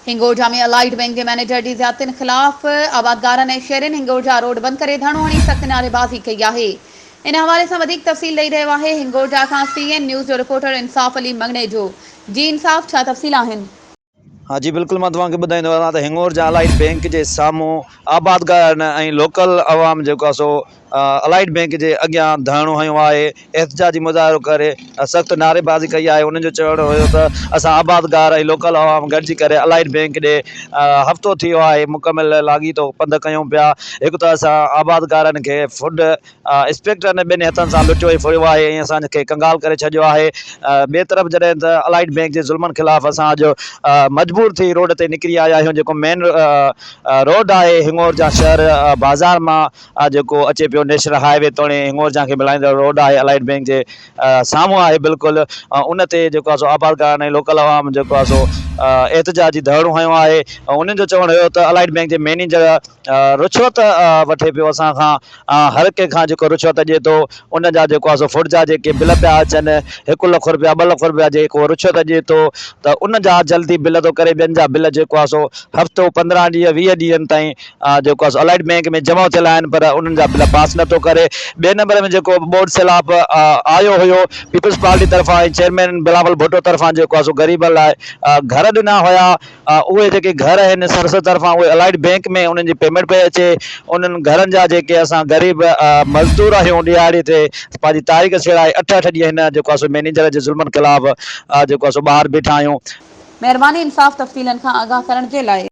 Hingorja ۾ Allied Bank جي manager جي زيادتين خلاف آبادگارن ۽ شهرين هنگورجا روڊ بند ڪري ڌرڻو هڻي سخت نعريبازي ڪئي آهي. ان حوالي سان وڌيڪ تفصيل ڏئي رهيو آهي هنگورجا کان سي اين نيوز جو رپورٽر انصاف علي مڱڻيجو جي انصاف ڇا تفصيل آهن؟ ها جي بلڪل مان توهان کي ٻڌائيندو هلان ته هنگورجا الائيڊ بئنڪ جي سامهون آبادگارن ۽ لوڪل عوام جيڪو آهي سو الائيڊ بئنڪ جي اڳيان ڌرڻو هنيو آهي، احتجاجي مظاهرو ڪري سخت نعريبازي ڪئي آهي، انهن جو چوڻ هيو ته اسان آبادگار ۽ لوڪل عوام گڏجي ڪري الائيڊ بئنڪ ڏي هفتو ٿيو آهي مڪمل لاڳيتو پنڌ ڪيون پيا، هڪ ته اسان آبادگارن کي فوڊ انسپيڪٽرن ٻنهي هٿن سان لٽيو ۽ ڦڙيو آهي ۽ اسان کي ڪنگال ڪري ڇڏيو آهي، ٻئي طرف جڏهن ته الائيڊ بئنڪ جي ظلمن خلاف اسان اڄ مجبور ٿي روڊ تي نڪري آيا آهيون جيڪو مين روڊ آهي هڱور جان شهر بازار مان اھا جيڪو اچي پيو نيشنل ھاء وي توڻي ھنڱورجھان کي ملائيندڙ روڊ آھي الائيڊ بينڪ جي سامھون آھي بلڪل ان تي جيڪو آھي سو آبادگارن ۽ لوڪل عوام جيڪو آھي سو احتجاجي ڌرڻو ھنيو آھي انھن جو چوڻ ھيو ته الائيڊ بينڪ جي مينيجر رشوت وٺي پيو اسان کان ھر ڪنھن کان جيڪو رشوت ڏئي ٿو ان جا جيڪو آھي سو فوڊ جا جيڪي بل پيا اچن ھڪ لک رپيا ٻه لک رپيا جيڪو رشوت ڏئي ٿو ته ان جا جلدي بل ٿو ڪري ٻين جا بل جيڪو آھي سو ھفتو پندرھن ڏينھن ويھه ڏينھن تائين جيڪو آهي سو الائيڊ بينڪ ۾ جمع ٿيل آهن پر انهن جا بل پاس نه ٿو ڪري ٻئي نمبر ۾ جيڪو بورڊ سيلاب آيو هيو پيپلز پارٽي طرفان ۽ چيئرمين بلاول ڀٽو طرفان جيڪو آهي سو غريبن لاء گهر ڏنا هيا اهي جيڪي گهر آهن سرسد طرفان اهي الائيڊ بينڪ ۾ انهن جي پيمينٽ پئي اچي انهن گهرن جا جيڪي اسان غريب مزدور آهيون ڏهاڙي تي پنهنجي تاريخ سيڙائي اٺ اٺ ڏينهن هن جيڪو آهي سو مينيجر جي ظلمن خلاف جيڪو آهي سو ٻاهر بيٺا آهيون. مهرباني انصاف تفصيلن کان آگاهه ڪرڻ جي لاء.